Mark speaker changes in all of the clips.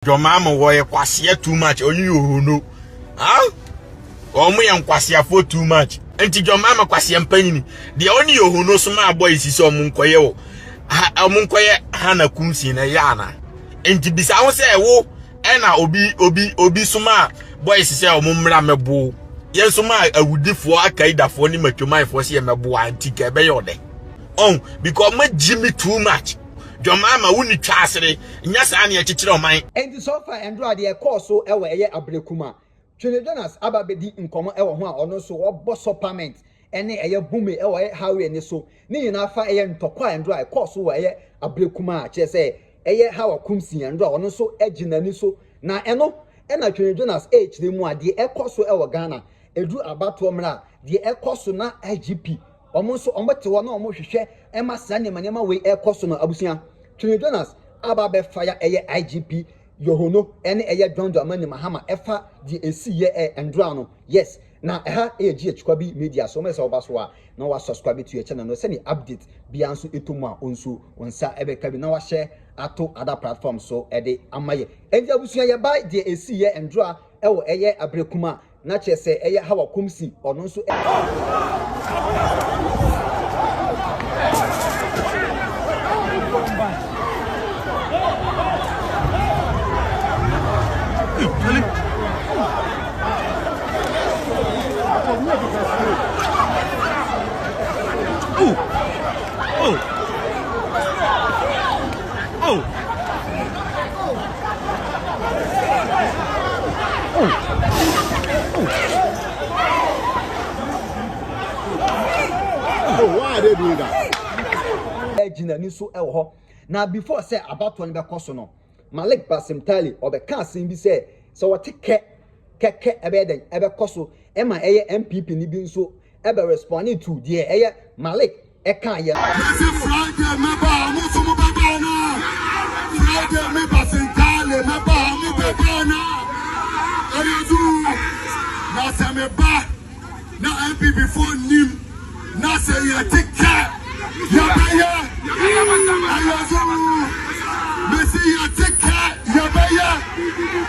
Speaker 1: John Mahama wɔyɛ kwasia too much ɔne yohono ah wɔn yɛ nkwasiafoɔ too much nti John Mahama kwasia mpanyini deɛ ɔne yohono so maa bɔ esi sɛ wɔn nkɔyɛ wɔ ha wɔn nkɔyɛ ha na kumsi na ɛyɛ ana nti bisa ho sɛ ɛwo ɛna obi obi obi so maa bɔ esi sɛ wɔn mmra mɛbo yɛn so maa awudifoɔ akaidafoɔ ne matwamanfoɔ sɛ yɛ mɛboa nti ka ɛbɛyɛ ɔdɛ ɔn because wɔn agyi me too much. dwom ama wo ni twa asere nyɛ saa ne ɛkyekyere ɔman. Enti so fa ɛndora
Speaker 2: deɛ ɛkɔɔ so wɔ ɛyɛ abrɛ kum a Twene Jonas aba bɛdi nkɔmɔ wɔ ho a ɔno nso ɔbɔ so pament ne ɛyɛ bome wɔ ɛyɛ Hawere ne so ne nyinaa fa ɛyɛ ntɔkwa a ɛndora ɛkɔɔ so wɔ ɛyɛ abrɛ kum a kyerɛ sɛ ɛyɛ Hawa kum sin ɛndora ɔno nso gye nani so na ɛno na Twene Jonas ɛrekyerɛ mu a deɛ ɛkɔ so wɔ Ghana ɛduru abatoɔ mmra deɛ ɛkɔ so na IGP Wɔn nso wɔte hɔ na wɔhwehwɛ ma saa nneɛma nneɛma wei ɛkɔ so no abusua. Twene Jonas a ba bɛfa ya ɛyɛ IGP Yohono ɛne ɛyɛ John Dramani Mahama ɛfa deɛ ɛsii yɛ ɛ Ndora no yes na ɛha ɛyɛ GH Kwabi Media so mɛsɛ ɔba so a na wa subscribe to yɛ channel no sɛdeɛ update biara nso ɛtɔ mu a ɔnsuo wɔn nsa ɛbɛka bi na wa share ato other platform so ɛde ama yɛ ɛnti abusua yɛ ba deɛ ɛsii yɛ Ndora ɛwɔ ɛyɛ Aberekum a Na kyerɛ sɛ ɛyɛ Hawa kumsi, ɔno nso.
Speaker 3: Oh, why are they doing that? Egyina ni so ɛwɔ hɔ.
Speaker 2: Na before sɛ abatoɔ no bɛkɔ so no, Malik Basim Tali ɔbɛka asɛm bi sɛ sɛ wɔte kɛ kɛkɛ ɛbɛyɛ dɛn ɛbɛkɔ so ɛma ɛyɛ MPP ni bi nso ɛbɛ responding to deɛ ɛyɛ Malik ɛkaa yɛ no. Mese Friday
Speaker 3: mɛba a mo nso mo bɛba anaa? Friday me ba Sentale mɛba a mo bɛba anaa? Ɛyɛ duru na sɛ me ba na NPP foɔ nnim na sɛ yɛte kɛ yɛbɛyɛ ɛyɛ duru mese yɛte kɛ yɛbɛyɛ.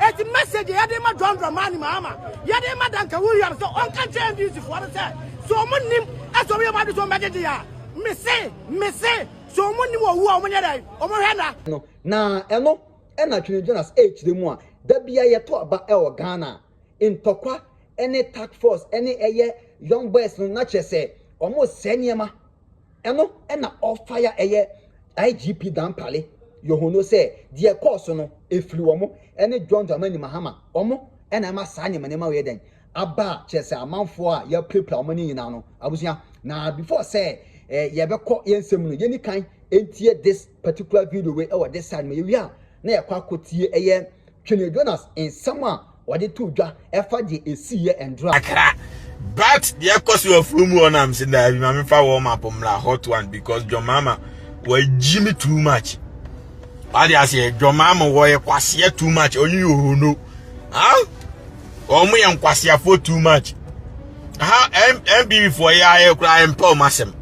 Speaker 4: Eti message a yɛde ma John Dramani Mahama, yɛde ma Duncan Williams sɛ ɔnka nkyerɛ NDC foɔ no sɛ, sɛ wɔn nnim sɛ wɔn yɛ wɔn ade sɛ wɔn bɛgyegye a, mese, mese, sɛ wɔn nnim owu a wɔn nyɛ dɛn, wɔn hwɛ nna. No, na
Speaker 2: ɛno na Twene Jonas ɛrekyerɛ mu a da biara yɛto aba wɔ Ghana a, ntɔkwa ne task force ne ɛyɛ young boys no na kyerɛ sɛ wɔresɛe nneɛma. Ɛno na ɔfae a ɛyɛ IGP Dampare Yohonoo sɛ deɛ ɛkɔɔ so no ɛfiri wɔn ne John Dramani Mahama, wɔn na ɛma saa nneɛma nneɛma wei ɛdɛn? aba a kyerɛ sɛ amanfoɔ a yɛapirapira wɔn no nyinaa no abusua. Na before sɛ yɛbɛkɔ yɛn nsɛm mu no yɛni kan ntie this particular video wei ɛwɔ this side ma yɛwie a na yɛkɔ akɔtie ɛyɛ Twene Jonas nsɛm a Wɔde to dwa ɛfa deɛ ɛsii yɛ ɛndra. Akra. But
Speaker 1: deɛ ɛkɔ so afuo mu hɔ na mse daa bi ma mefa warm up mmra hot one because John Mama wɔagyi me too much. Wade aseɛ John Mama wɔyɛ kwaseɛ too much ɔnye yɛ ohono. Ha? Wɔn yɛ nkwaseafoɔ too much. Ha MBB foɔ yɛ ayɛ koraa ɛmpɛ wɔn asɛm.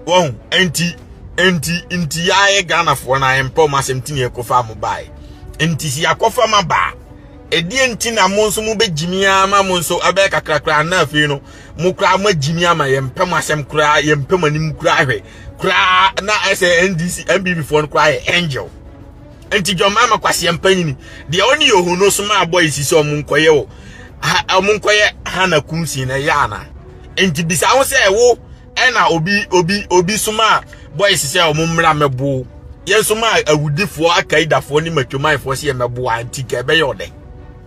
Speaker 1: Wɔn nti nti nti yɛ ayɛ Ghanafoɔ na ɛmpɛ wɔn asɛm ti na ɛkɔfa mo baeɛ. Nti si akɔfa ma baa. Ɛdeɛn nti na mo nso mobɛgyimi ara ma mo nso ɛbɛyɛ kakrakra anaa afei no mo koraa moagyimi ama yɛmpɛ mo asɛm koraa yɛmpɛ mo anim koraa hwɛ koraa na ɛsɛ ndc mbb foɔ no koraa yɛ angel nti dwammaa ma kwaseɛ mpanyini deɛ ɔne yɛ ohu no so ma abɔ esi sɛ ɔmo nkɔyɛ wɔ ɔmo nkɔyɛ hana kumsin na ɛyɛ ana nti bisa ho sɛ wo Ɛna obi obi obi somaa boys sɛ wɔn mmra mmɛbow yɛn somaa awudifoɔ akaidafoɔ ne matwamanfoɔ sɛ yɛmmɛboa nti ka ɛbɛyɛ ɔdɛ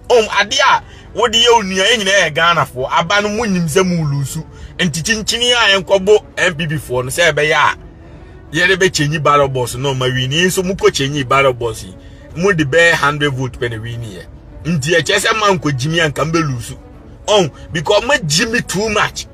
Speaker 1: ɔm ade a wode yɛ onua yɛ nyinaa yɛ ghanafoɔ aba no mu nyim sɛ mu lusu nti kyinkyini a yɛnkɔbo npp foɔ no sɛ ɛbɛyɛ a yɛde bɛkyɛnyi ballot box no ma wini yɛn nso mokɔ kyɛnyi ballot box yi mo de bɛyɛ hundred vote pɛ na wini yɛ nti ɛkyɛ sɛ mankɔ gyimi anka mbɛlusu ɔn because magyimi too much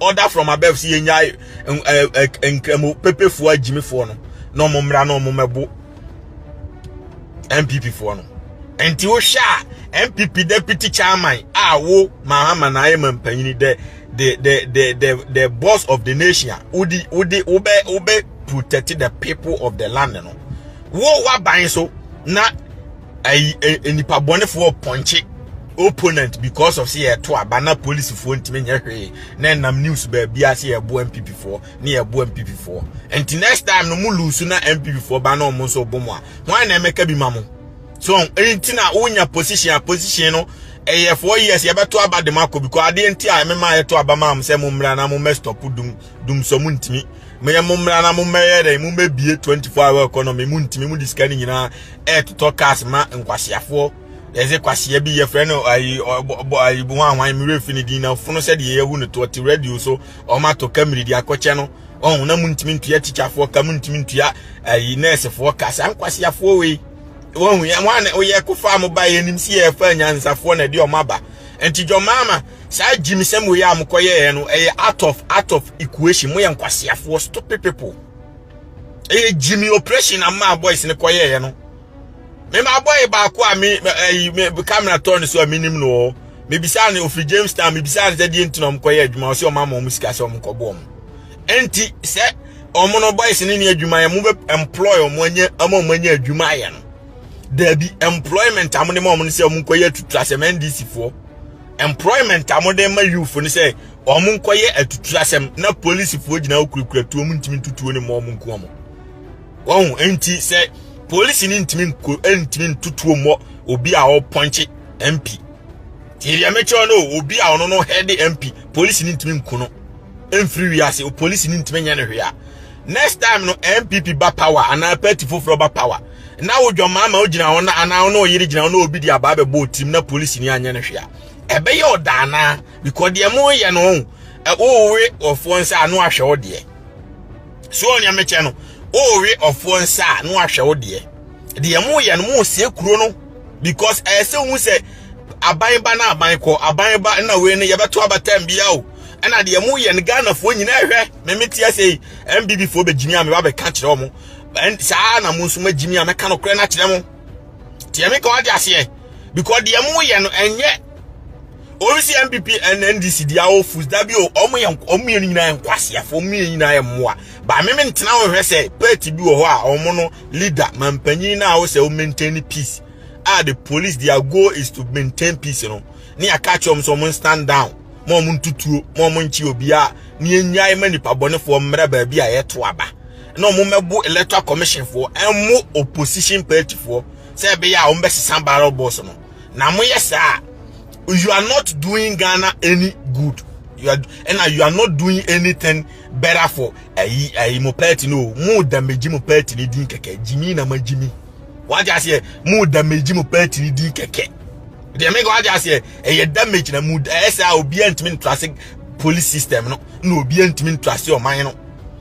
Speaker 1: order from above si yɛnyae nkramu pepefoɔ agyimifoɔ no na ɔmo mmra na ɔmo mɛbo npp foɔ no nti wohwɛ a npp deputy chairman a wo mahama na ayɛ ma mpanyini dɛ the the the the the boss of the nation wodi wodi wobɛ wobɛ protect the people of the land no wo waban so na ayi eh, nipa bɔnefoɔ pɔnkye opponent because of sɛ yɛto aba na polisifoɔ ntumi nyɛ hwee na ɛnam news baabi a sɛ yɛboa mpp foɔ ne yɛboa mpp foɔ nti next time no mo lusu na mpp foɔ ba na ɔmo nso bɔ mo a hwan na ɛmɛka bi ma mo so nti na wonya position a position no ɛyɛ four years yɛbɛto aba de mo akɔ because adeɛ nti a ɛmɛma yɛto aba ma mo sɛ mo mmra na mo mɛ stop dum dum so mo ntimi mo yɛ mo mmra na mo mmɛyɛ dɛ mo mmɛbie 24 hour economy mo ntimi mo disika ne nyinaa ɛɛtotɔ cars ma nkwaseafoɔ yɛdze kwasea bi yɛfrɛ no ayi ɔbɔ ayi bo ahwan mi refi ne din na fono sɛdeɛ yɛhu no to ɔte radio so ɔmo ato kamiri de akɔkyɛ no ɔn na mo ntumi ntua tikyafoɔ ka mo ntumi ntua ayi nɛɛsefoɔ ka saa nkwaseafoɔ wei wɔn yɛ wɔn a wɔyɛ kofa mo ba yɛ nim si yɛ fa nyansafoɔ na ɛde ɔmo aba nti dwɔmaama saa gyimisɛm wei a mokɔyɛɛ no ɛyɛ out of out of equation moyɛ nkwaseafoɔ stupid people ɛyɛ gyimi operation na maa boys no kɔyɛɛ no mema boy baako a me ɛyi me camera tɔ ne so a menim no ɔ mebisa ne ofiri jamestown mebisa ne sɛ deɛ nti na ɔmo kɔyɛ adwuma ɔsɛ ɔmo ama ɔmo sika sɛ ɔmo kɔbɔ ɔmo ɛnti sɛ ɔmo no boys ne ne adwuma yɛ mo bɛ employ ɔmo anya ama ɔmo anya adwuma ayɛ no daabi employment a mo ne ma ɔmo no sɛ ɔmo nkɔyɛ tutu asɛm ndc foɔ Employment a wɔde ma youth no sɛ wɔn nkɔyɛ atuturasɛm na polisifoɔ gyina hɔ kurakura tuo mu ntumi ntutuo ne mmɔ wɔn nku wɔn. Wɔn nti sɛ polisi no ntumi nko ntumi ntutuo mmɔ obi a ɔpɔnkye MP. Tie deɛ mekyerɛ no obi a ɔno no head MP polisi no ntumi nku no. Mfiri wiase polisi no ntumi nyɛ no hwee a. Next time no MPP ba power anaa party foforɔ ba power. na wo dwammaama gyina hɔ na anaa ɔne ɔyere gyina hɔ na obi de abaa bɛbɔ otim na polisi ni anyɛ no hwɛ a ɛbɛyɛ ɔda anaa because deɛ mo yɛ no ho wowe ɔfoɔ nsa a no ahwɛ wo deɛ so ɔnea mekyɛ no wowe ɔfoɔ nsa a no ahwɛ wo deɛ deɛ mo yɛ no mo sie kuro no because ɛyɛ sɛ ohun sɛ aban ba na aban kɔ aban ba na wei no yɛbɛto abatam bia o ɛna deɛ mo yɛ no ghanafoɔ nyinaa hwɛ meme teɛ sɛ mbb foɔ bɛgyimi a meba bɛka kyerɛ ɔmo And saa ara na mo nso magye me a mɛka no korɛ no akyerɛ mo. Tiɛ me ka wate aseɛ. Because deɛ mo yɛ no ɛnyɛ obi si NPP and NDC deɛ awo fus dabi o ɔmo yɛ ɔmo yɛ no nyinaa nkwaseafo ɔmo yɛ nyinaa yɛ mmoa. Ba me me ntena ho hwɛ sɛ party bi wɔ hɔ a ɔmo no leader mampanyin na awo sɛ o maintain peace. Ah the police their goal is to maintain peace no. Ne aka kyerɛ ɔmo sɛ ɔmo stand down. Mo ɔmo ntutuo, mo ɔmo nkye obiara. Ne enyae ma nipa bɔnefoɔ mmerɛ baabi a yɛto aba. na wɔn mmɛbo electoral commission foɔ ɛmo opposition party foɔ sɛ ɛbɛyɛ a wɔn bɛsesa barrel boss no na mo yɛ saa you are not doing Ghana any good you are and you are not doing anything better for ayi ayi mo party no mo damage mo party ni din kɛkɛ jimmy na ma jimmy wagye aseɛ mo damage mo party ni din kɛkɛ deɛ mɛka wagye aseɛ ɛyɛ damage na mo ɛyɛ sɛ a obiara ntumi ntura se police system no na obiara ntumi ntura se ɔman no.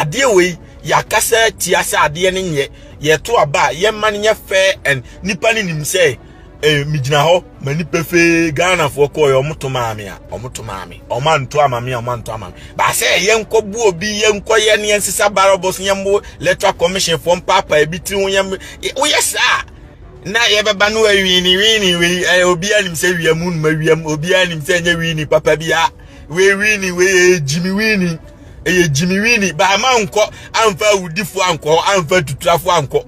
Speaker 1: adeɛ wei yɛakasa atia sɛ adeɛ no nyɛ yɛto aba a yɛma no nyɛ fair and nipa no nim sɛ eh, megyina hɔ ma nipa fee ghanafoɔ kɔɔ yɛ ɔmoto maa me a ɔmoto maa me ɔma nto ama me a ɔma nto ama me baasɛ yɛnkɔbu obi yɛnkɔyɛ ne yɛnsesa barabɔs yɛmbo electoral commission foɔ mpaapa ebi tiri ho yɛm woyɛ saa na yɛbɛba no awiini wiini wei eh, obiara nim sɛ wiam numa wiam obiara nim sɛ ɛnyɛ wiini papa bi a wei wini wei yɛ gyimi wini ɛyɛ gyimi wini baama nkɔ amfa awudifo ankɔ hɔ amfa tuturafo ankɔ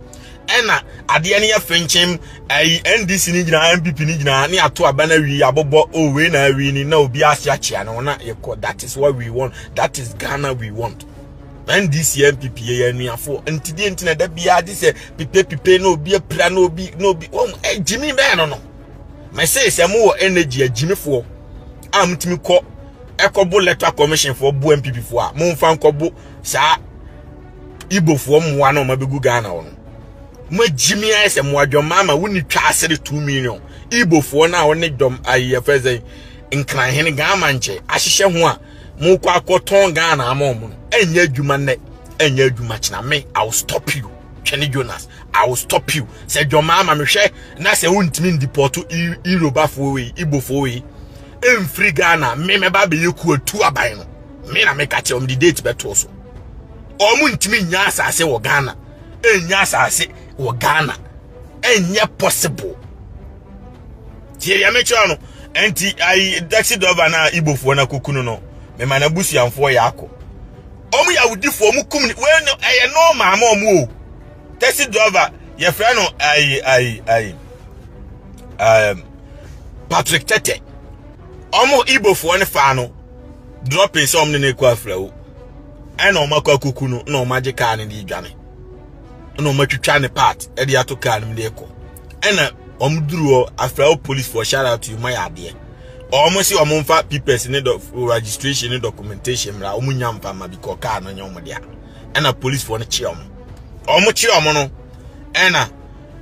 Speaker 1: ɛna adeɛ no yɛ fenkyem ayi ndc no nyinaa npp no nyinaa ne ato aba no awi abobɔ o oh, wei na awi ni na obi ase akyea no na yɛkɔ that is what we want that is ghana we want ndc npp yɛ anuafoɔ ntideɛ nti na da biara gye sɛ pipepipe na obi apira na obi na obi wɔn gyimi bɛɛ no no mɛsee sɛ mo wɔ energy agyimifoɔ a motumi kɔ ɛkɔbo electoral commission foɔ bo mpp foɔ a momfa nkɔbo saa ibofoɔ mmoa na ɔma bɛgu ghana wɔ no moagyimi ayɛ sɛ mmoa dwɔma ama wonni twa asere 2 million ibofoɔ no a wɔne dɔm ayɛfɛ sɛ nkranhene ghama nkyɛ ahyehyɛ ho a mokɔ akɔtɔn ghana ama ɔmo no ɛnyɛ adwuma nnɛ ɛnyɛ adwuma kyena me i will stop you twɛne jonas i will stop you sɛ dwɔmaa ma mehwɛ na sɛ wontumi ndipɔto irobafoɔ wei ibofoɔ wei ɛmfiri ghana me mɛba bɛyɛ kuatu aban no me na meka kyɛ ɔmde date bɛtoɔ so ɔmo ntumi nya asase wɔ ghana ɛnya asase wɔ ghana ɛnyɛ possible tie deɛ mekyerɛ no ɛnti ayi taxi driver no a ibofoɔ no akɔku no no mema no abusuamfoɔ yɛ akɔ wɔn yɛ awudifo wɔn kum ni wei no ɛyɛ nɔɔma ama wɔn o taxi driver yɛfrɛ no ayi ayi ayi ɛɛm um, patrick tete wɔn ibofoɔ no faa no dropping sɛ wɔn ne no ekɔ afra o ɛna wɔn akɔ akuku no na wɔn agye kaa no de dwane ɛna wɔn atwitwa ne part ɛde ato kaa no mu de kɔ ɛna wɔn duru hɔ afra o police for shout out to you mo ayɛ adeɛ. wɔn si wɔn mfa papers ne dɔ registration ne documentation mmra wɔn nya mfa ma because car no nyɛ wɔn dea ɛna policefoɔ no kye wɔn wɔn kye wɔn no ɛna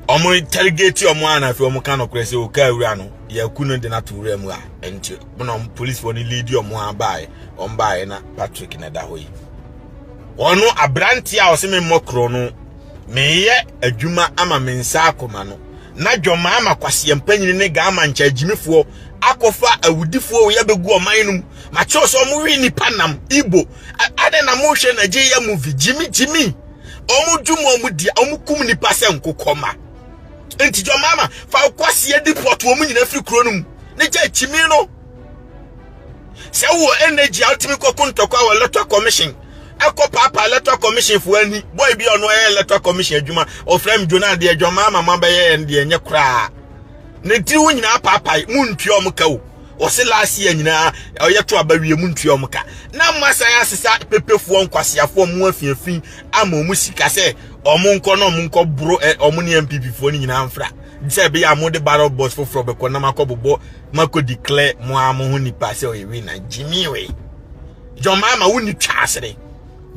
Speaker 1: wɔn interrogate wɔn a na afei wɔn ka nɔkorɛ sɛ o car wura no yɛku no de no ato wura mu a nti na wɔn policefoɔ no lead wɔn a baeɛ wɔn baeɛ na Patrick na ɛda hɔ yi wɔn aberanteɛ a wɔsɛ me mmɔ korɔ no meyɛ adwuma ama me nsa akoma no na dwammaa ma kwaseɛ mpanyini ne gaama nkyɛagyimifoɔ akɔfa awudifoɔ wei abɛgu ɔman no mu makyɛw sɛ ɔmo we nipa nam igbo adɛn na mohwɛ nigeria movie gyimi gyimi ɔmo dwom ɔmo di ɔmo kum nipa sɛ nkokɔma nti dwammaa ma fa kwaseɛ di pɔt ɔmo nyina firi kuro no mu ne gya kyimi no sɛ wowɔ energy a wotumi kɔko ntɔkwa wɔ electoral commission ɛkɔ paapa electoral commission foɔ ani boy bi ɔno ɛyɛ electoral commission adwuma ɔfrɛ me dwona adeɛ adwuma ama ma bɛyɛ ɛn deɛ ɛnyɛ koraa ne tiri wo nyinaa paapae mu ntua ɔmo ka o ɔse last year nyinaa ɔyɛ to aba wie mu ntua ɔmo ka na mo asan asesa pepefoɔ nkwaseafoɔ mo afiafi ama ɔmo sika sɛ ɔmo nkɔ na ɔmo nkɔ boro ɔmo ne MPP foɔ no nyinaa mfra sɛ ɛbɛyɛ a mo de barrel box foforɔ bɛkɔ na makɔ bobɔ mako declare mo a mo ho nipa sɛ ɔyɛ wi na jimmy we john mama wo ni twasere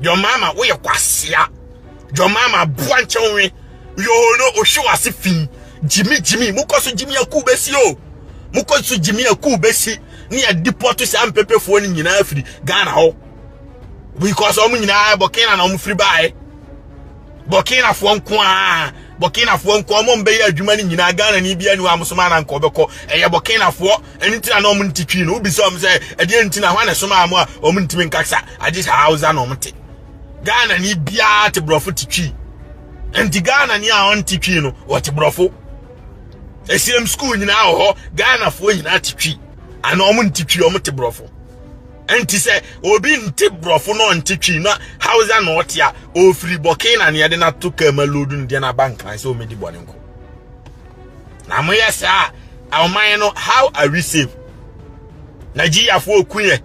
Speaker 1: john mama wo yɛ kwasia john mama boa nkyɛn we yo no ohwe wase fi jimmy jimmy mo kɔ so jimmy aku besi o mo kɔ so jimmy aku besi ne yɛ deport saa mpepefoɔ no nyinaa firi ghana hɔ because ɔmo nyinaa bɔkena na ɔmo firi baeɛ burkinafoɔ nko a burkinafoɔ nko a wɔn bɛyɛ adwuma no nyinaa ghana ni bi anu amosoma na nka ɔbɛkɔ ɛyɛ burkinafoɔ ɛno nti na na wɔn nti twi no wobi sɛ wɔn sɛ ɛdeɛ nti na wɔn na ɛsoma wɔn a wɔn ntumi nkasa agye sɛ hausa na wɔn te ghana ni biara te borɔfo te twi nti ghana ni a wɔn te twi no wɔte borɔfo ɛsiam sukuu nyinaa wɔ hɔ ghanafoɔ nyinaa te twi ana wɔn nti twi wɔn te borɔfo. Nti sɛ obi nte borɔfo na ɔnte twi na hausa na ɔte a ɔfiri bɔkee na neɛ de no ato kaa ma lodu no deɛ no aba nkran sɛ ɔmɛdi bɔne nko na moyɛ saa a ɔman no how are we safe nigeriafoɔ kuyɛ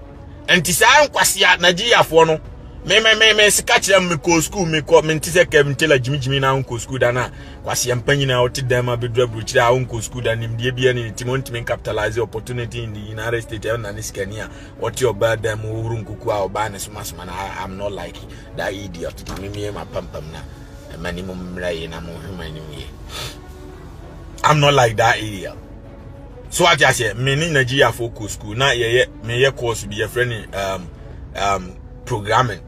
Speaker 1: nti saa nkwase a nigeriafoɔ no me me me me sika kyerɛ me kɔ school me kɔ me nte sɛ kɛm ntela gyimigyimi na nkɔ school da no a kwasia mpanyin a ɔte dan mu abɛduru aburokyire a ɔnkɔ sukuu da nimdeɛ bi ne ne tim ɔntumi capitalize opportunity in the united states ɛna ne sikani a ɔte ɔbaa dan mu ɔhuru nkuku a ɔbaa ne somasoma na i'm not like that idiot tumi mmie ma pampam na ɛma ne mu mmerɛ yɛ na monhwema anim yɛ i'm not like that idiot so ate aseɛ me ne nigeriafoɔ kɔ sukuu na yɛyɛ meyɛ course bi yɛfrɛ ne um, um, programming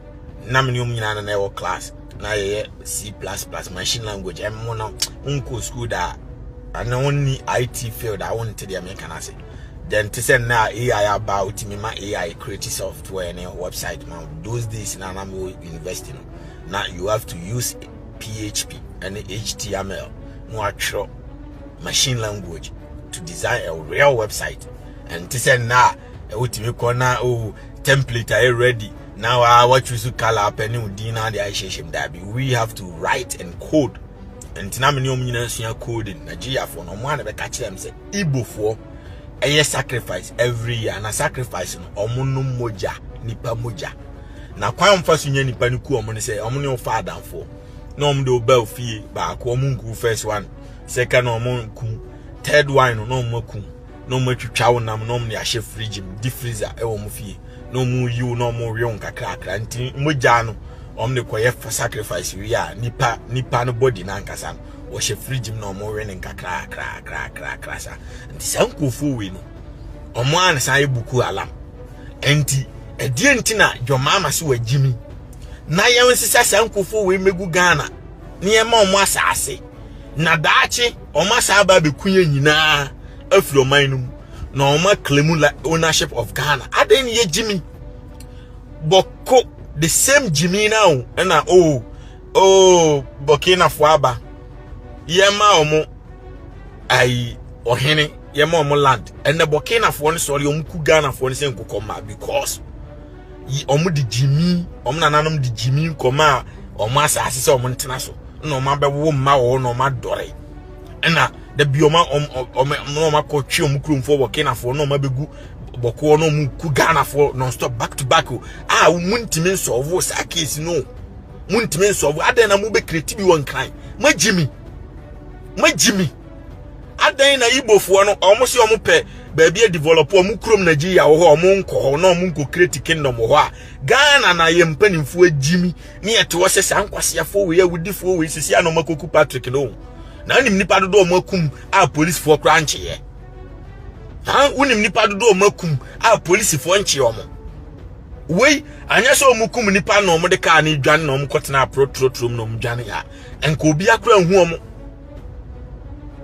Speaker 1: na me ne wɔn nyinaa na ɛwɔ class na yɛyɛ c plus plus machine language ɛmo no nkɔ school da a na wɔnni it field a wɔnte deɛ meka no ase then te sɛ nnɛ a ai aba a wotumi ma ai create software ne website ma those days na na mewɔ university no na you have to use php ɛne html na watwerɛ machine language to design a real website ɛnte sɛ nnɛ a wotumi kɔ na o oh, template ayɛ ready na wa wa choose color apɛ ne odin na de ahyehyɛ mu daabi we have to write and code ntina me ne ɔmo nyinaa sua coding nigeriafoɔ no ɔmo a na bɛka kyerɛ m sɛ igbofoɔ ɛyɛ sacrifice every year na sacrifice no ɔmo no mogya nipa mogya na kwan ɔmfa so nya nipa no ku ɔmo ne sɛ ɔmo ne ɔfa adamfoɔ na ɔmo de ɔba ofie baako ɔmo nku first one second ɔmo nku third one no na ɔmo aku na wɔn atwitwa wo nam na wɔn de ahyɛ fridge mu di freezer ɛwɔ wɔn fie na wɔn yi wo na wɔn rewe wo kakrakra nti mogya no wɔn de kɔyɛ sacrifice wie a nipa nipa no body no ankasa no wɔhyɛ fridge mu na wɔn we no nkakrakrakrakrakra saa nti saa nkurɔfoɔ wei no wɔn a na san yɛ buku alam nti ɛdeɛ nti na dwɔmaama so wɔ gyimi na yɛn nsesa saa nkurɔfoɔ wei megu ghana na yɛn ma wɔn asaase na daakye. wɔn asan aba abɛku yɛn nyinaa afiri ɔman no mu na wɔn aklemu ownership of ghana adɛn ne yɛ gyimi bɔko the same gyimi na o ɛna o oh, o oh, bɔkinafoɔ aba yɛma wɔn ayi ɔhene yɛma wɔn land ɛnna bɔkinafoɔ no sɔre wɔn ku ghanafoɔ no sɛ nkokɔmma because yi wɔn de gyimi wɔn nananom de gyimi nkɔmaa wɔn asase sɛ wɔn ntena so na wɔn abɛwo mma wɔn na wɔn adɔre ɛna dabi wɔn wɔn wɔn na wɔn akɔ twe wɔn kuromfoɔ wɔ kenafoɔ na wɔn abɛgu bɔkoɔ na wɔn ku ghanafoɔ non stop back to back o a wɔn ntumi nsɔɔvo saa keesi no wɔn ntumi nsɔɔvo adan na wɔn bɛ kireti bi wɔ nkran mo agyimi mo agyimi. Adɛn na Igbofoɔ no, wɔn se wɔn pɛ baabi adevelop wɔn kurom Nigeria wɔ hɔ a wɔn nkɔ hɔ na wɔn nkɔ create kingdom wɔ hɔ a Ghana na yɛ mpanimfoɔ agyimi ne yɛte hɔ sɛ saa nkwaseafoɔ wei awudifoɔ wei sisi a na wɔn akɔku Patrick no na wonim nipa dodo wɔn akum a polisifoɔ koraa nkyeɛ ha wonim nipa dodo wɔn akum a polisifoɔ nkyeɛ wɔn wei anyɛ sɛ wɔn kum nipa na wɔn de kaa ne dwane na wɔn kɔtena aporɔ turoturom na wɔn dwane a nka obi akora nhu wɔn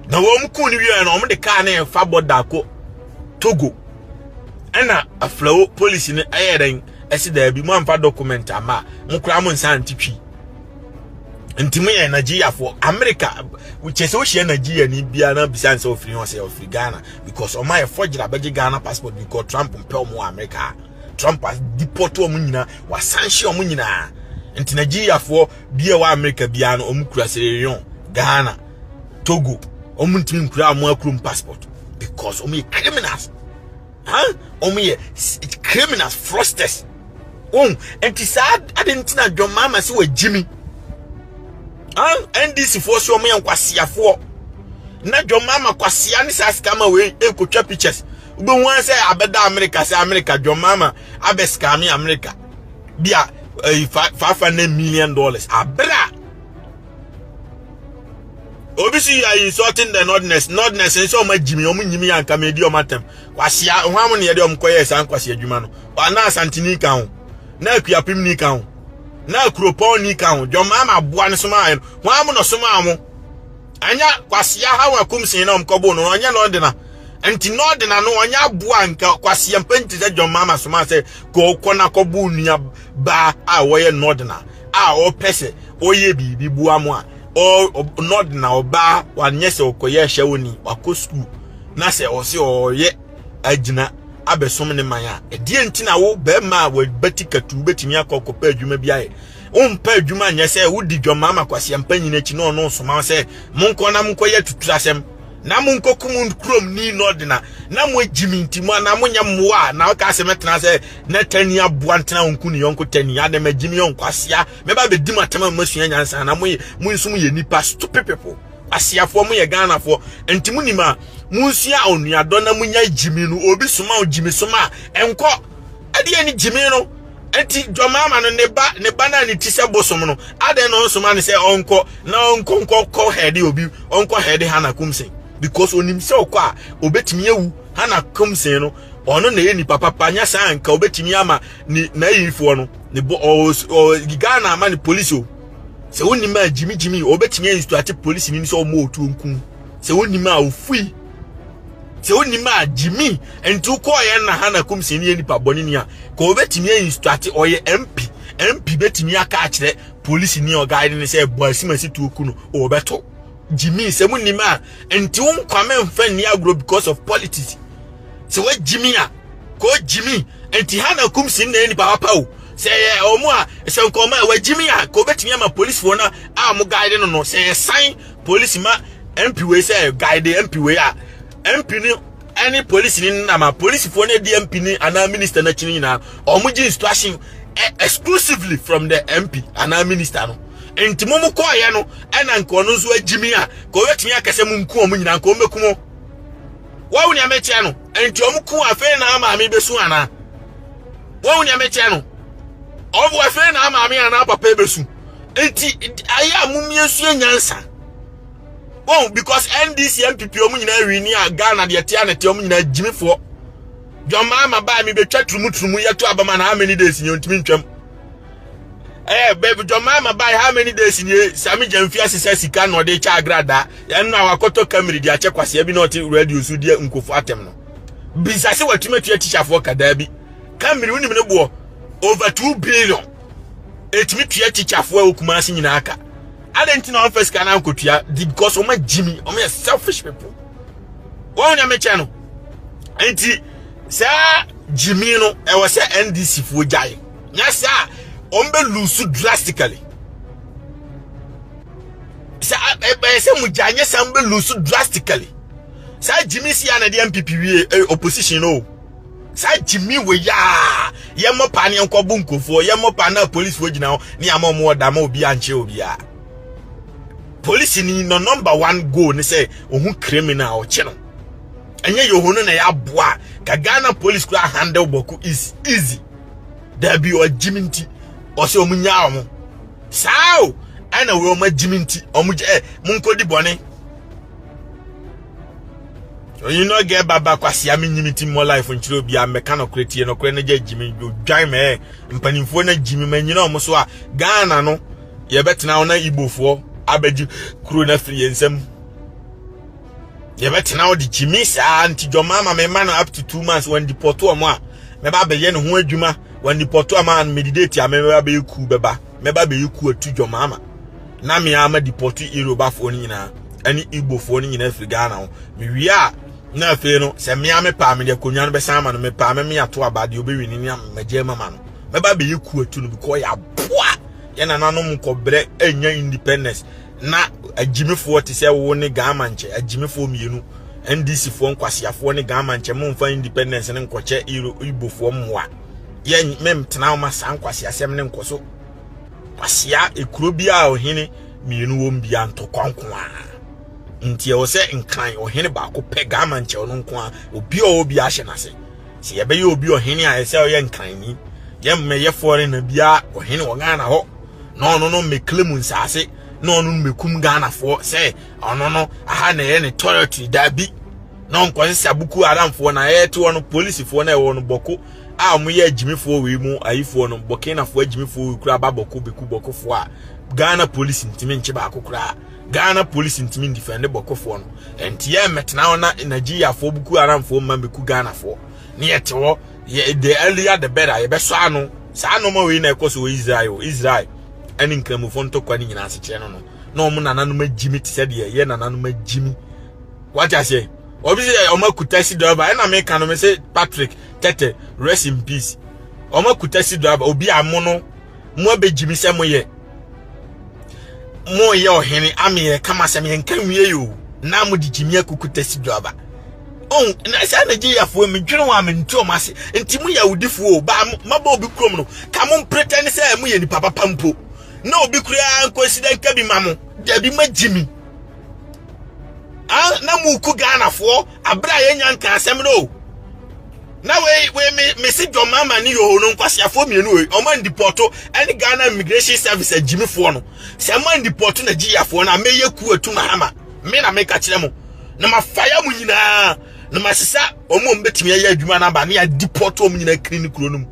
Speaker 1: na wɔn kuu no wieɛ no wɔn de kaa no ɛfa bɔda kɔ togo ɛna aflawo polisi no ɛyɛ dɛn ɛsi daabi mo amfa document ama mo koraa mo nsa nte twi nti mo yɛ nigeriafoɔ amerika kyɛ sɛ wohyia nigeria ni biara na bisa nsɛ ofiri hɔ sɛ ofiri ghana because ɔma yɛ fɔgyera bɛgye ghana passport because trump mpɛ ɔmo wɔ amerika trump deport ɔmo nyinaa wasanhye ɔmo nyinaa nti nigeriafoɔ bia wɔ America bia no ɔmo kura Sierra Leone Ghana Togo ɔmo ntumi nkura ɔmo akurom passport because ɔmo yɛ criminals ha ɔmo yɛ criminals frosters wɔn nti saa adi nti na John Mahama sɛ wɔ gyimi ha NDC foɔ so ɔmo yɛ nkwasiafoɔ na John Mahama kwasia ne saa scammer wei ekotwa pictures wobɛhu sɛ abɛda America sɛ America John Mahama abɛ scammer America. bi a ɛyi eh, five hundred million dollars abira obi si you are insulting the nordness nordness nso ɔmo agyimi ɔmo nyimi yɛ anka mɛ di ɔmo atɛm kwasia ho amu ne yɛde ɔmo kɔ yɛ saa nkwasia adwuma no ɔna asantini ka ho na akuapem ni ka ho na akuropɔn ni ka ho dwɔmaa ma aboa no soma ayɛ no ho amu na ɔsoma ɔmo. ɛnyɛ kwasia ha wa kum sin na ɔm kɔbo no ɔnyɛ na ɔdena nti na ɔdena no ɔnyɛ aboa nka kwasia mpa nti sɛ John Mama soma sɛ kɔkɔ na kɔbo nua baa a wɔyɛ na ɔdena a ɔpɛ sɛ ɔyɛ biribi boa mo a na ɔdena ɔbaa wanyɛ sɛ ɔkɔyɛ hyɛ wo ni wakɔ sukuu na sɛ ɔse ɔyɛ agyina abɛsom ne man a ɛdeɛ nti na wo bɛrima a wabati katu wobɛtumi akɔ kɔpɛ adwuma bi ayɛ Wompɛ adwuma nyɛ sɛ wodi dwammaama kwaseampa nyina akyi na ɔno nsoma wo sɛ monkɔ na monkɔyɛ atuturasɛm na monkɔkum kurom ni na ɔde na na moagyi me nti mo anaa monyɛ mmoa a na ɔka sɛ mɛtena sɛ na tani aboa ntena ɔnko ne yɔnko tani adɛ magyi me yɔnko asea mɛba bɛdi matam a moasua nyansa na moyɛ mo nso moyɛ nnipa stupid people aseafoɔ moyɛ ghanafoɔ nti monim a monsua onuadɔ na monya gyimi no obi soma wo gyimi soma a ɛnkɔ ɛdeɛ ne gyimi no Enti dɔmama no ne ba ne ba na ne ti sɛ bosom no adɛn na ɔnsoma ne sɛ ɔnkɔ na ɔnkɔ nkɔ kɔ hɛde obi ɔnkɔ hɛde Hana Kumsen because onim sɛ ɔkɔ a obetumi awu Hana Kumsen no ɔno na yɛ nipa papa nya saa nka obetumi ama ne nayifoɔ no ne bɔ ɔɔ Ghana ama ne polisi o sɛ wonim a gyimi gyimi obetumi instruate polisi ni sɛ ɔmo otuo nkum sɛ wonim a ofui Sɛ wonim a gye me nti wokɔɔyɛ na ha na kum sɛ ne yɛ nipa bɔne ni a ka wɔbɛtumi ayi nsutate ɔyɛ mp mp bɛtumi aka akyerɛ polisi ni ɔgaade ne sɛ ɛbɔ asimasi tuo ku no wɔbɛto gye me sɛ mo nim a nti wo nkwa me mfa nni agorɔ because of politics sɛ wagye me a ka ɔgye me nti ha na kum si na yɛ nipa papa o sɛ yɛ ɔmo a sɛ nkɔmɔ a wagye me a ka wɔbɛtumi ama polisifoɔ no a mo gaade no no sɛ yɛsan Polisi ma MP wei sɛ guide MP wei a MP ni ɛne polisi ni nam a polisifoɔ no di MP ni anaa minister no akyi no nyinaa wɔn gye instruction e, exclusively from the MP anaa minister no nti mo mo kɔɔyɛ no ɛna nka ɔno nso agyimi a ka ɔbɛtumi akɛ sɛ mo nku wɔn nyinaa nka wɔn bɛku mo wɔn nea mɛkyerɛ no nti wɔn ku afei na maame bɛsu anaa wɔn nea mɛkyerɛ no wɔn afei na maame anaa papa bɛsu nti ayɛ a mom yɛnsua nyansa wɔn because ndc npp wɔn nyinaa wi ni a ghana deɛ tea na tea wɔn nyinaa gyimifoɔ dwamaa ma baa mi betwa turumuturumu yɛto abama na how many days ni ntumi ntwam ɛɛ bɛbi dwamaa ma baa how many days ni sami gya mfi asesa sika na ɔde kyɛ agradaa ɛno a wakɔtɔ kamiri de akyɛ kwaseɛ bi na ɔte radio so deɛ nkofo atɛm no bisase watumi atua tikyafoɔ kadaa bi kamiri wonim ne boɔ over two billion ɛtumi tua tikyafoɔ a wɔkuma ase nyinaa ka adɛn nti na wɔmfa sika no ankɔtua di because wɔma gyimi wɔyɛ selfish people wɔn na mekyɛ no nti saa gyimi no ɛwɔ sɛ ndc foɔ gyae nyɛ sɛ a wɔbɛlusu drastically sɛ ɛbɛyɛ sɛ mo gyae nyɛ sɛ wɔbɛlusu drastically saa gyimi si a na ɛde mpp wie opposition no o saa gyimi wɔ yi a yɛmmɔ paa ne yɛnkɔ bu nkurɔfoɔ yɛmmɔ paa na polisifoɔ gyina hɔ ne ama ɔmo ɔda ma obi ankyerɛ obiara polisi ni no number one goal ne sɛ ohun criminal ɔkye no ɛnyɛ yɛhɔ no na yɛaboa ka ghana police kora handle bɔko is easy daabi ɔgyimi nti ɔsɛ ɔmo nyaa ɔmo saa o ɛna wei ɔmo agyimi nti ɔmo gyɛ monkɔdi bɔne Onyi no gɛ baba kwasea me nyimi ti mo life nkyerɛ obi a mɛka no korɛ tie no korɛ no gya gyimi dwan mɛ eh. mpanimfoɔ no gyimi ma nyina ɔmo so a Ghana no yɛbɛtena wo na Igbofoɔ abɛgye kuro no afiri yɛn nsam yɛbɛtena wo de gyimi saa nti dwɔma ama me ma no up to two months wɔn dipɔto ɔmo a mɛba abɛyɛ ne ho adwuma wɔn dipɔto ama medidate a mɛba abɛyɛ kuu bɛba mɛba bɛyi ku atu dwom ama na me ara ma depɔte Yorubafoɔ no nyinaa ɛne Igbofoɔ no nyinaa firi Ghana ho mewie a na afei no sɛ mmea me paa mede akonnwa no bɛsan ama no me paa mɛme ato aba deɛ ɔbɛwi no ne amagye mama no mɛba bɛyi ku atu no because yɛaboa yɛ nananom nkɔbrɛ ɛnya independence na agyimifoɔ te sɛ wo ne Ghana nkyɛ agyimifoɔ mmienu NDC foɔ nkwasiafoɔ ne Ghana nkyɛ mo mfa independence ne nkɔkyɛ Igbofoɔ mmoa yɛ mentena wo ma saa nkwaseasɛm ne nkɔ so kwasea ekuro bi a ɔhene mmienu wɔm bia ntɔkwa nko a nti ɛwɔ sɛ nkran ɔhene baako pɛ gama nkyɛw no nko a obi a ɔwɔ bi ahyɛ n'ase sɛ yɛbɛyɛ obi ɔhene a ɛsɛ ɔyɛ nkran ni yɛmmɛyɛ fɔre na bia ɔhene wɔ ghana hɔ na ɔno no mmɛkle mu nsaase na ɔno no mmɛkum ghanafoɔ sɛ ɔno no aha na ɛyɛ ne territory daabi na ɔnkɔsese abuku aramfoɔ na ɛte hɔ no polisifoɔ na ɛwɔ no bɔko a wɔyɛ agyimifoɔ wei mu ayifoɔ no bɔkenafoɔ agyimifoɔ wei kura ba bɔko bɛku bɔkofoɔ a ghana polisi ntumi nkye baako koraa ghana polisi ntumi ndifɛnde bɔkofoɔ no ɛnti yɛ mmɛtena hɔ na nigeriafoɔ buku aramfoɔ mma bɛku ghanafoɔ ne yɛte hɔ yɛ the earlier the better yɛbɛsɔ ano saa nɔma wei na ɛkɔ so wɔ israel israel ɛne nkramofoɔ ntɔkwa ne nyinaa asekyerɛ no no na wɔn nananom agyimi te sɛ deɛ yɛ nananom agyimi wate aseɛ obi sɛ ɔmo aku taxi driver ɛna me ka no me sɛ Patrick tɛtɛ rest in peace ɔmo aku taxi driver obi a mo no mo abɛgyi me sɛ mo yɛ mo yɛ ɔhene ame yɛ kama sɛ me nka nwie yi o na mo de gyi me akuku taxi driver ɔn oh, na saa na gye yafoɔ mi dwene wɔn a me nti ɔmo ase nti mo yɛ awudifoɔ o ba mabɔ obi kurom no ka mo mpretɛ ne sɛ mo yɛ nipa papa mpo na obi kura nkɔsi dɛ nka bi ma mo dabi ma gyi mi. Ah, na muku Ghanafoɔ abere a yɛnya nka asɛm no o. Na wei wei me me si John Mahama ne Yoho no nkwaseafoɔ mmienu wei ɔmo andipɔto ɛne Ghana Immigration Service agyimifoɔ no sɛ mo andipɔto na gyiyafoɔ no a mɛyɛ ku atu Mahama me na meka kyerɛ mo na mafaya mo nyinaa na masesa ɔmo a ɔmo bɛtumi ayɛ adwuma no aba ne adipɔto ɔmo nyinaa kiri ne kuro no mu.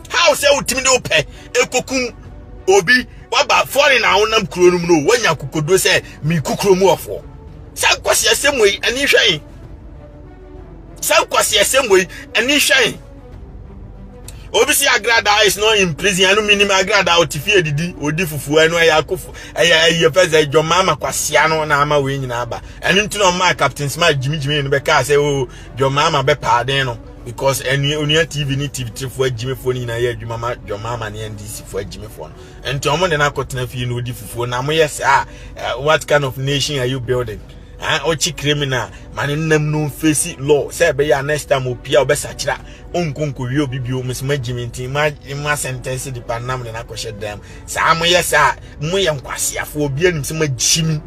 Speaker 1: how sɛ wotumi de wopɛ ekokum obi waba foreign a wonam kuro no mu no wanya kokodo sɛ meku kuro mu ɔfoɔ saa nkwasi asɛm wei ani hwɛn saa nkwasi asɛm wei ani hwɛn obi si agrada is not in prison ɛno minim agrada ɔte fie didi odi fufuo ɛno ɛyɛ akofo ɛyɛ ɛyɛ fɛ sɛ dwɔmaa ma kwasia no na ama wei nyinaa ba ɛno nti na ɔmaa captain smart gyimigyimi no bɛkaa sɛ o oh, John Mahama bɛpaa den no because ɛnua onua tv ne tv tifoɔ agyimifoɔ no nyinaa yɛ adwuma ma John Mahama ne ndc foɔ agyimifoɔ no nti wɔn de no akɔtena fie na ɔdi fufuo na mo yɛ saa eh, what kind of nation are you building ah, ɔkyi criminal ma ne nam no mfesi law sɛ ɛbɛyɛ a next time opia ɔbɛsakyera ɔnkonkowie obi bio mesoma gyimi nti ma ma sentence nipa nam de no akɔhyɛ dam saa mo yɛ saa mo yɛ nkwaseafoɔ obi anim sɛ magyimi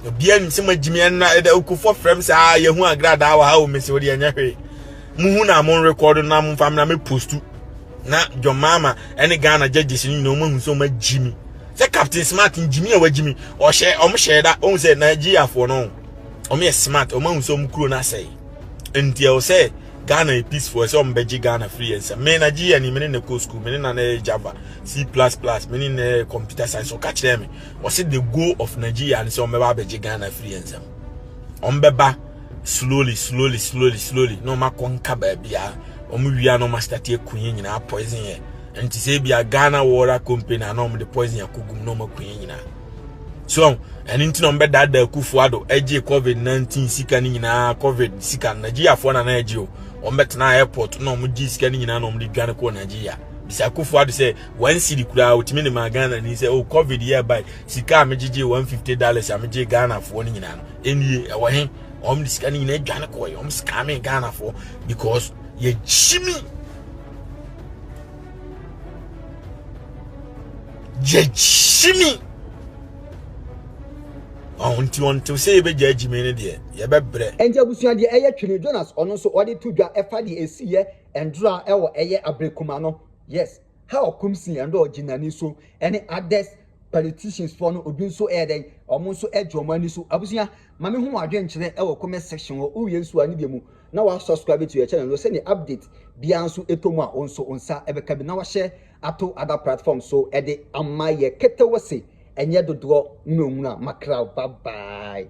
Speaker 1: Obiara nim sɛ magyimi ɛnna ɛda okufoɔ frɛ m sɛ a yɛhu agradaa wɔ ha o mese wode ɛnyɛ hwee muhu na mo rekɔdo na momfa m na me postu na John Mahama ɛne Ghana judges no nyinaa wɔahu sɛ wɔagyimi sɛ Captain Smart ngyimi a wagyimi ɔhyɛ wɔn hyɛ da wɔn sɛ Nigeriafoɔ no wɔn yɛ smart wɔn ahu sɛ wɔn kuro no asɛe nti ɛwɔ sɛ Ghana yɛ peaceful ɛsɛ wɔn bɛgye Ghana firi yɛn nsam me Nigeria ni me ne na kɔ school me ne na na yɛ Java C++ me ne na yɛ computer science ɔka kyerɛ me wɔse the goal of Nigeria ne sɛ wɔbɛba abɛgye Ghana afiri yɛn nsam wɔbɛba slowly slowly slowly slowly na wɔakɔ nka baabi a wɔn wia na wɔastate aku yɛn nyinaa poison yɛ nti sɛ bi a Ghana Water Company a na wɔde poison akɔgum na wɔaku yɛn nyinaa so ɛno nti na wɔbɛdaadaa akufoɔ ado agye covid 19 sika no nyinaa covid sika no nigeriafoɔ na na agye o wɔbɛtena airport na wɔgye sika no nyinaa na wɔde dwane kɔɔ nigeria bisa akufoɔ ado sɛ one city koraa wotumi de maa ghana ni sɛ o oh, covid yɛ bae sika a megyegye one fifty dollars a megye ghanafoɔ no nyinaa no ɛnie ɛwɔ he wɔn de sika no nyinaa adwane kɔɛ wɔn sika me ghanafoɔ because yɛgye mi yɛgye mi ɔho nti wɔn ntew sɛ yɛbɛgya agyi mi no deɛ yɛbɛbrɛ. ɛnti abusua deɛ ɛyɛ
Speaker 2: twene jonas ɔno nso ɔde to dwa ɛfa deɛ ɛsi yɛ ndora ɛwɔ ɛyɛ abirikuma no. Yes ha ɔkom si yɛn dɛ ɔgyinani so ɛne others politicians foɔ no obi nso ɛyɛ dɛn ɔmo nso ɛgye ɔmo ani so abusua ma me hu wɔn adwenkyerɛ ɛwɔ comment section hɔ wowie nso a ne deɛ mu na wa subscribe to yɛ channel no sɛdeɛ update biara nso ɛtɔ mu a wo nso wo nsa ɛbɛka bi na wahyɛ ato other platform so ɛde ama yɛ kete wo se ɛnyɛ dodoɔ nwunawuna makraw bye bye.